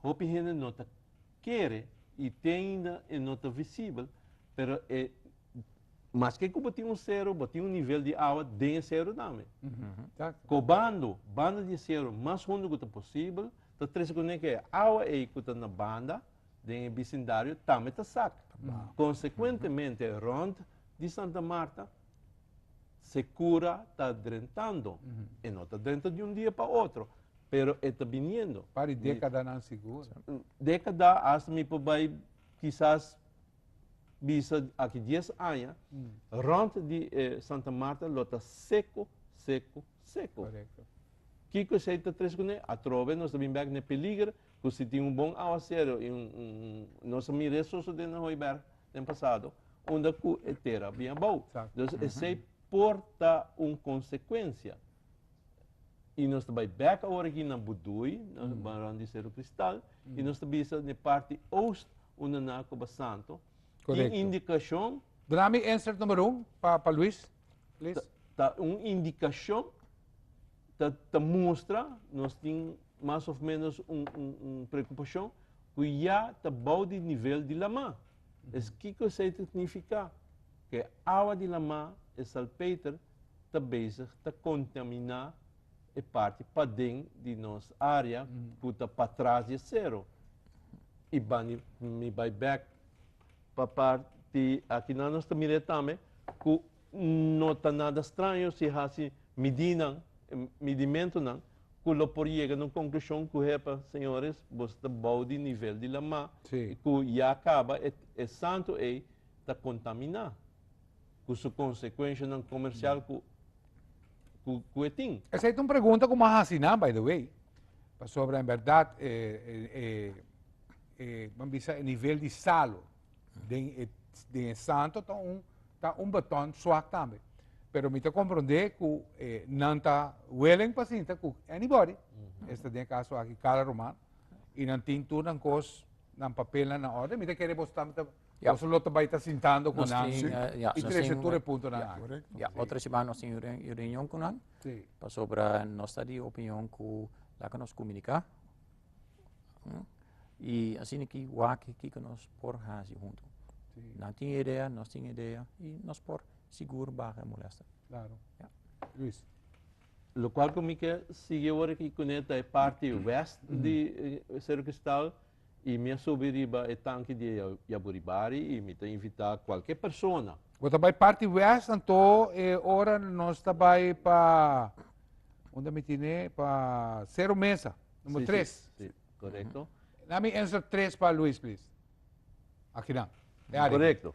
hopi hende no ta kere i te ainda e no ta visibel pero e Maske ku bo tin un seru, bo tin un nivel di awa den e seru tambe. Kobando, banda di e seru mas hundu ku ta posibel, ta trese kuné ku e awa ei ku ta na banda den e bisindario tambe ta sak. Konsekuentemente rònt di Santa Marta Sekura ta drentando. E no ta drenta di un dia pa otro, pero e ta biniendo. Par di dékadanan sigur. Dékada, asta mi por bai kisas. bisa aki dies aña, rònt di e Santa Marta lo ta seko, seko, seko. Korekto. Kiko esei ta tres kuné? Atrobe nos ta bin bèk na e peliger ku si tin un bon awaseru i un, un, un, nos a mira eso so den Hooiberg den pasado, unda ku e tera bin abou. Exacto. Entonces esei por ta un konsekuensia. I nos ta bai bèk awor aki na Budui, na rònt di Seru Kristal, i nos ta bisa na e parti oost Unda na ku basanto. Correcto. Tin indikashon. Duna mi insert number un pa pa Luis please. Ta un indikashon ta ta mustra nos tin mas of menos un un un preokupashon ku ya ta bou di nivel di lama. Es kiko esei ta signifiká? Ku e awa di lama, e salpeter, ta bezig ta kontaminá e parti paden di nos área ku ta patras di e sero i ban di mi bai bèk pa parti akinan. Nos ta mir'é tambe ku no ta nada straño si hasi midinan, midimentunan ku lo por yega na un konklushon ku hepa, señores, boso ta bou di nivel di lamá i ku ya kaba e santu ei ta kontaminá. ku su konsekuenshanan komersial ku ku e tin. Esei ta un pregunta ku m'a hasi nan, by the way, pasobra en bèrdat e e e kua mi bisa e nivel di salo den e den e santo ta un ta un botòn swak tambe, pero mi ta komprondé ku e nan ta willing pa sinta ku anybody, esta den e kaso aki Carla Romano, i nan tin tur nan kos, nan papelnan na òrden, mi ta kere boso tambe ta Ya. Nos lo ta bai ta sintando ku nan Nos tin, eh, ya, i nos trese tin- tur e puntonan ya. akí. Korekto. Ya, otro siman nos tin un re- un reunion ku nan Sí. pasobra nos ta di opinion ku laga nos kuminika i asina ki wak kiko nos por hasi huntu. Sí. Nan tin e idea, nos tin e idea i nos por sigur baha e molèsta. Klaro. Ya. Luis. Lo cual cu mi ke sigui awor aki cu ne ta e parti west di Cerro Cristal. i mi a subi riba e tanki di e yaburibari i mi ta invitá kualke persona. Bo ta bai parti wèst anto e ora nos ta bai pa unda mi tine pa Sero Mesa, numero tres. Si, si, si. Korekto. Laat mi answer tres pa Luis please. Akinan, e área. Korekto.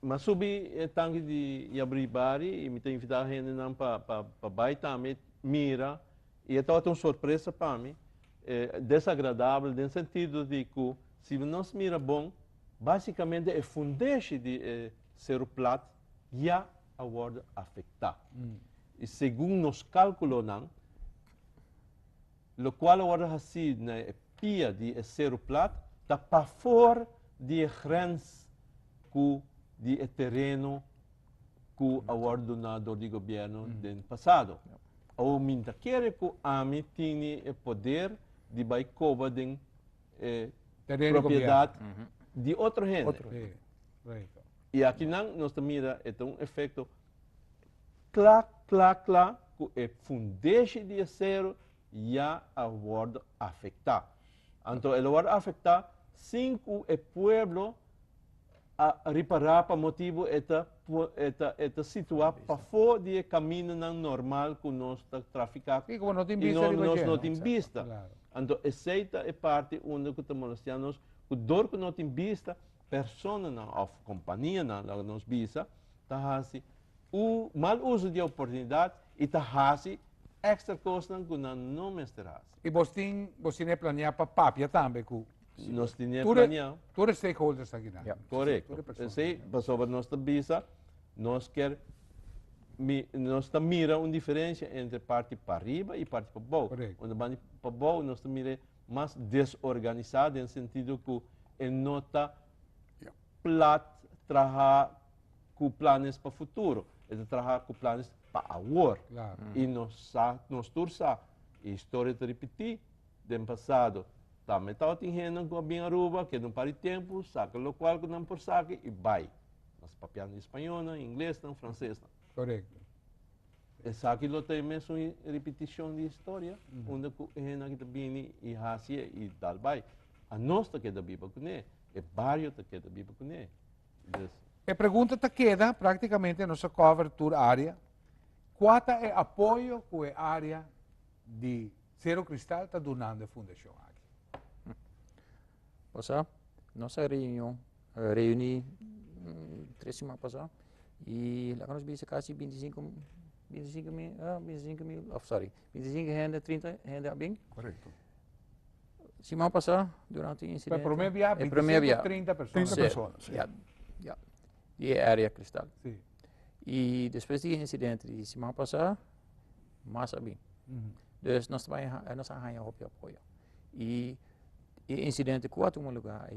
Mi a subi e tanki di yaburibari i mi ta invitá hendenan pa bai tambe mira i e tabata un sorpresa pa mi. E desagradabel den sentido di ku si nos mira bon, básikamente e fundeshi di e Seru Plat ya a wòrdu afektá. I segun nos kálkulonan, lokual a wòrdu hasí na e pia di e Seru Plat ta pafór di e grens ku di e tereno ku a wòrdu duná dor di gobièrnu den pasado. Awor mi ta kere ku ami tini e poder di bai koba den e propiedat di otro hende. I akinan nos ta mira e ta un efekto kla, kla, kla ku e fundeshi di e seru ya a wòrdu afektá. Anto el a wòrdu afektá sin ku e pueblo a ripará pa motibu e ta e ta e ta situá pafó di e kamindanan normal ku nos ta trafiká i ku nos no tin bista. Anto esei ta e parti unda ku ta molestiá nos ku dor ku no tin bista personanan òf kompanianan laga nos bisa ta hasi u mal uso di e oportunidat i ta hasi èkstra kosnan ku nan no mester hasi. Y bos tin, bos tiné planea pa papia tambe cu Nos tin e tur e, planea. tur e stakeholders aki nan. Tur Correcto. e personanan. Esey pasobra nos ta bisa, nos ker mi, nos ta mira un diferencia entre parti pariba y parti pa bou. Correct. Unda bandi pa bou nos ta mir'e mas desorganisa den sentido cu e no ta Yeah. plat, traha, ku planes pa futuro, e ta traha ku planes pa awor. Claro. I nos sa, nos tur sa, e historia ta ripití den pasado. Tambe tabatin hendenan ku a bin Aruba, keda un par di tempu, saka lokual ku nan por saka i bai. Mas papiando di spañolnan, inglesnan, fransesnan. Korekto. Esaki lo ta e mesun hi- ripitishon di historia, unda ku e hendenan ki ta bini i hasi e i dal bai. A nos ta keda biba kuné, e bario ta keda biba kuné. E pregunta ta keda, práktikamente nos a cover tur área, kua ta e apoyo ku e área di Sero Kristal ta dunando e fundashon aki? Pasá nos a reunion, reuní tres siman pasá i laga nos bisa kasi binti sinku, binti sinku mil, binti sinku mil, sorry Bintisinke hende, trinta hende a bin. Korekto. Siman pasá durante un insidente. Pero promé biaha bintisinke, trinta persona. Trinta persona, si. Ya, ya. Di e área Kristal. Si. I despues di e insidente di siman pasá, mas a bin. Pues nos ta nos a haña hopi apoyo. I e insidente ku a tuma lugá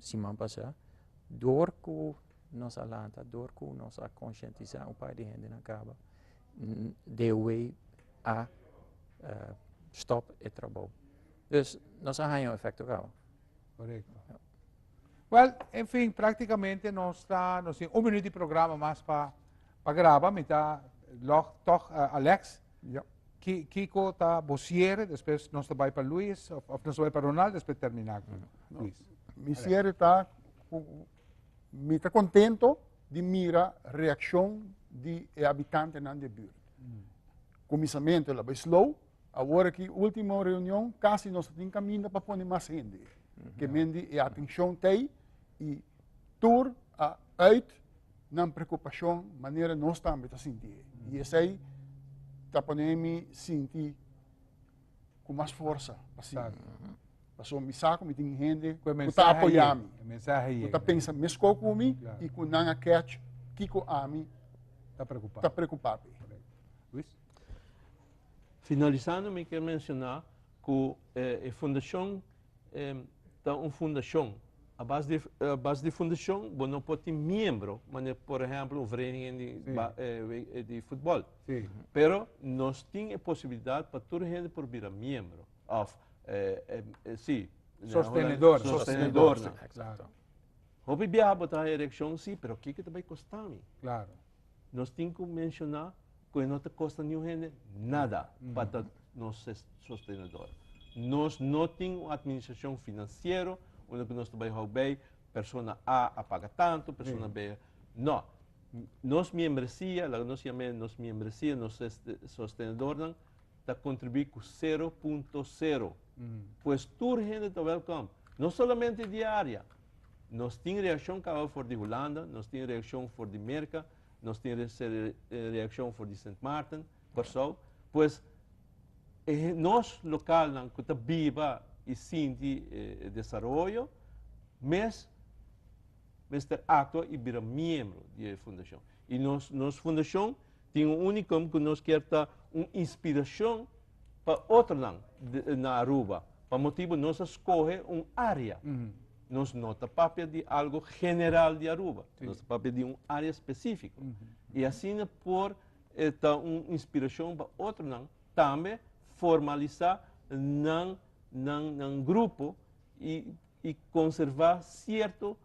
siman pasá, dor ku nos a lanta, dor ku nos a konshientisá un par di hendenan kaba. deaway a stop e trabou dus nos a haña un efekto gau. Korekto. Wèl, enfin, praktikamente nos ta, nos tin un minüt di programa mas pa pa graba, mi ta lòg tòg Alex, ki kiko ta bo siere, despues nos ta bai pa Luis, òf nos ta bai pa Ronald, despues terminá ku Luis. Mi siere ta ku Mi ta kontento di mira reakshon di e abitantenan di e burt. Kuminsamentu el a bai slow, awor aki último reunion kasi nos tin kaminda pa pone mas hende. Ke men di e atenshon tei i tur a uit nan prekupashon manera nos tambe ta sinti. I esei ta pone mi sinti ku mas forsa pa sigu. Pasobra mi sa ku mi tin hende ku ta apoyá mi, ku ta pensa meskou ku mi i ku nan a kèch kiko ami ta preokupá pa e. Finalisando mi ke menshoná ku e fundashon E ta un fundashon. A bas di a bas di fundashon bo no por tin miembro manera por ehempel un vereniging di ba e di futbol. Sí. Pero nos tin e posibilidat pa tur hende por bira miembro of e e sí, den Hollandes, Sostenedor. sostenedornan. Exacto. Hopi biaha bo ta haña reaccion, sí, pero kiko ta bay costa mi? Claro. Nos tin ku menshoná ku e no ta kosta niun hende nada pa ta nos sostenedor. Nos no tin un atministrashon finansiero unda ku nos ta bai hou bei persona A a paga tantu, persona B. No. Nos miembresia, laga nos yam'e nos miembresia, nos sostenedornan, ta kontribuí ku sero punto sero. Pues tur hende ta wèlkòm, no solamente di e área. Nos tin reakshon kaba for di Hulanda, nos tin reakshon for di Merka, nos tin reakshon for di Sint Maarten, Kòrsou. Pues e nos lokalnan ku ta biba i sinti e desaroyo mes mester aktua i bira miembro di e fundashon. Y nos nos fundacion tin un unicum cu nos kier ta un inspiracion pa otronan na Aruba. Pa motibo nos a scoge un area. Nos no ta papia di algo general di Aruba. Nos ta papia di un area specifico. Y asina por ta un inspiracion pa otronan tambe formalisa nan grupo y conserva cierto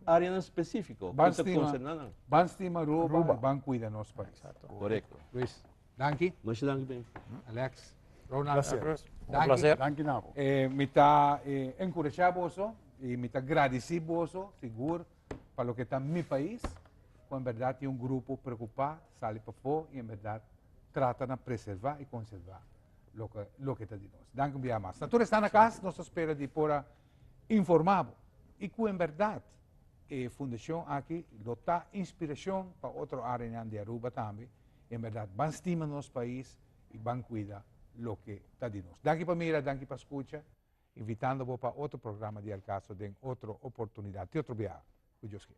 áreanan spesífiko ku ta konserná nan. Ban stima Aruba i ban kuida nos pais. Korekto. Luis, danki. Masha danki Benny. Alex. Ronald. Gracias. Un placer. Danki Nabo. Mi ta enkurashá boso i mi ta gradisí boso sigur pa loke ta mi pais ku en bèrdat tin un grupo preokupá sali pafó i en bèrdat trata na preservá i konservá loke ta di nos. Danki un bia mas. Na tur esnan na kas nos ta spera di por a. informa bo y cu en berdad e fundacion aki lo ta inspiracion pa otro arenan di Aruba tambe, en berdad ban stima nos pais y ban cuida loke ta di nos. Danki pa mira, danki pa scucha, invitando bo pa otro programa di El Caso den otro oportunidad, te otro biaha, cu Dios kier.